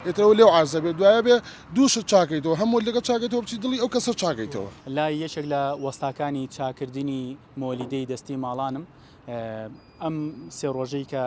ئیتر ئەوە لێو عەرزە بێ دوایە بێ دوو شت چاکەیتەوە هەم مۆلیدەکە چاکەیتەوە بچی دڵی ئەو کەسە چاکەیتەوە. لای یەکێک لە وەستاکانی چاکردنی مۆلیدەی دەستی ماڵانم ئەم سێ ڕۆژەی کە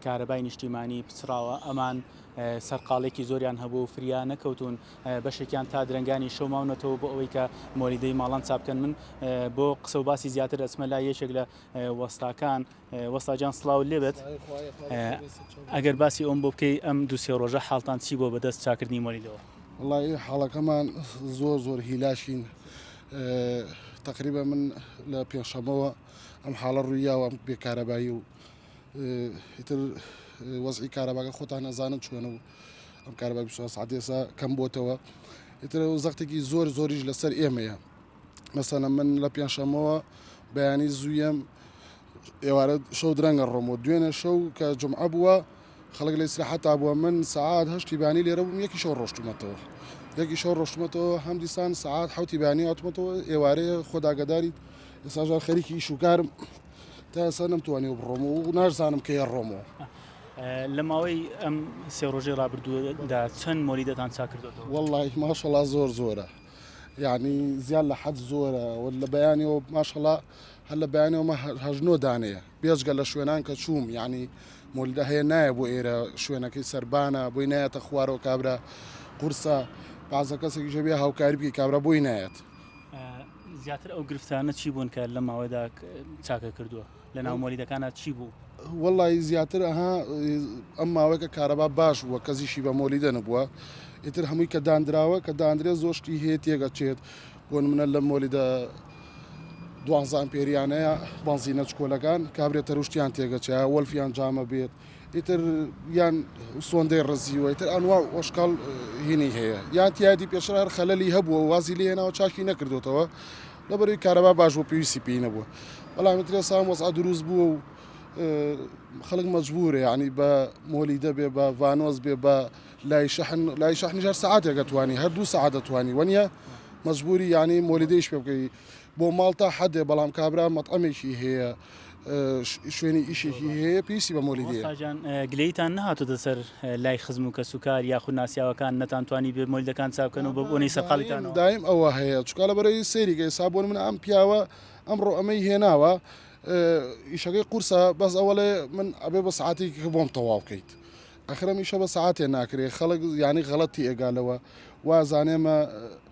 کارەبای نیشتیمانی پچڕاوە ئەمان سەرقاڵێکی زۆریان هەبوو و فریا نەکەوتون بەشێکیان تا درەنگانی شەو ماونەتەوە بۆ ئەوەی کە مۆلیدەی ماڵان چابکەن من بۆ قسە و باسی زیاتر ئەچمە لای یەکێک لە وەستاکان وەستاجان سڵاو لێبێت ئەگەر باسی ئەوم بۆ بکەی ئەم دو سێ ڕۆژە حاڵتان چی بۆ بەدەست چاکردنی مۆلیدەوە وڵی حاڵەکەمان زۆر زۆر هیلاشین تقریبا من لە پێشەمەوە ئەم حاڵە ڕوویاوە بێکارەبایی و ئیتر وەزعی کارەباگە خۆتان نەزانن چۆن و ئەم کارەبای سعاتێسا کەم بۆتەوە ئیتر زەختێکی زۆر زۆریش لەسەر ئێمەیە مەسەلەن من لە پێنجشەمەوە بەیانی زوویەم ئێوارە شەو درەنگە ڕۆم و دوێنێ شەو کە جمعە بووە خەڵک لە سراحەتا بووە من سعات هەشتی بانی لێرە بووم یەکی شەو ڕۆشتومەتەوە یەکی شەو ڕۆشتمەتەوە هەم دیسان سعات حوتی بانی هاتومەتەوە ئێوارەیە خۆداگەداریت ئێساژار خەریکی ئیش و کارم تا ئێسا نەمتوانی و بڕۆم و نارزانم کە یە ڕۆمەوە لە ماوەی ئەم سێ ڕۆژەی ڕابردوودا چەند مۆلیدەتان چاکردەوە وڵی ماشەڵا زۆر زۆرە یانی زیاد لە حەد زۆرە و لە بەیانیەوە ماشەڵا هەر لە بەیانەوەمە هەژنۆ دانەیە بێژگە لە شوێنان کە چووم یانی مولدە هەیە نایە بۆ ئێرە شوێنەکەی سربانە بۆی نایەتە خوارەوە کابرا قورسە پازە کەسێکی ژەبێ هاوکاری بکە کابرا بۆی نایەت زیاتر ئەو گرفتانە چی بوون کە لە ماوەدا چاکە کردووە لەناو مۆلیدەکانا چی بوو؟ وەڵڵایی زیاتر ئەها ئەم ماوەیەکە کارەبا باش بووە کەزیشی بە مۆلیدە نەبووە ئیتر هەمووی کە دانراوە کە داندرێ زۆشتی هەیە تێگەچێت بۆ منە لە مۆلیدە دوانزان پێریانەیە بەنزینە چکۆلەکان کابرێ تەروشتیان تێگەچە وەلفیان جامە بێت ئیتر یان سۆندەی ڕزیوە ئیتر ئەنوا ئۆشکال هینی هەیە یان تیادی پێشرار خەلەلی هەبووە وازی لێناوە چاشی نەکردوتەوە لە بەرەی کارەبا باش بوو پێویستی پێی نەبووە بەڵام ئیتر ئێستا ئەم وەزعە دروست بووە و خەڵک مەجبورە یعنی بە مۆلیدە بێ بە ڤانۆز بێ بە لای شەحن لای شەحنی ژەر سعاتێکە توانی هەردوو سعات دەتوانی وەنیە مەجبوری یعنی مۆلیدەیش پێ بکەی بۆ ماڵ تا حەدێ بەڵام کابرا مەطعمێکی هەیە شوێنی ئیشێکی هەیە پێویستی بە مۆلی دێ مامۆستاجان گلەیتان نەهاتۆتە سەر لای خزم و کەس و کار یاخود ناسیاوەکان نەتان توانی بێ مۆلدەکان چاک بکەن و بە بۆنەی سەرقاڵیتانەوە دایم ئەوە هەیە چونکە لەبەرەی سەیریکە ئێستا بۆ نمونە ئەم پیاوە ئەمڕۆ ئەمەی هێناوە ئیشەکەی قورسە بەس ئەوەڵێ من ئەبێ بە سعاتێکی کە بۆم تەواو بکەیت ئەخرەمیشە بە سعاتێ ناکرێت خەڵک یانی غەڵەتی ئێگالەوە وازانێمە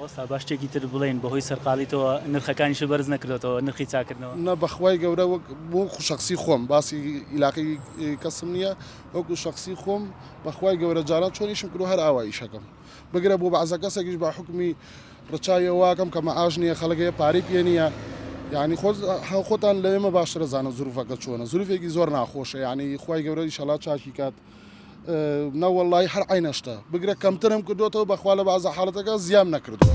وەستا با شتێکی تر بڵێین بەهۆی سەرقاڵیتەوە نرخەکانیشت بەرز نەکردۆتەوە نرخی چاکردنەوە؟ نە بەخوای گەورە وەک وەکو شەخسی خۆم باسی ئیلاقی کەسم نیە وەکو شەخسی خۆم بەخوای گەورە جاران چۆن ئیشم کردوە هەر ئاوا ئیشەکەم بگرە بۆ بەعزە کەسێکیش بە حوکمی ڕچاوی ئەوواکەم کە مەعاش نیە خەڵک هەیە پارەی پێ نیە یعنی خۆ خۆتان لە ئێمە باشتر ئەزانن زروفەکە چۆنە زروفێکی زۆر ناخۆشە یعنی خوای گەورە ئیشەڵا چاکی کات. نە وەڵاهی هەر عەینە شتە بگرە کەمترم کردوەتەوە بەخوا لە بەعزە حاڵەتەکە زیام نەکردوە.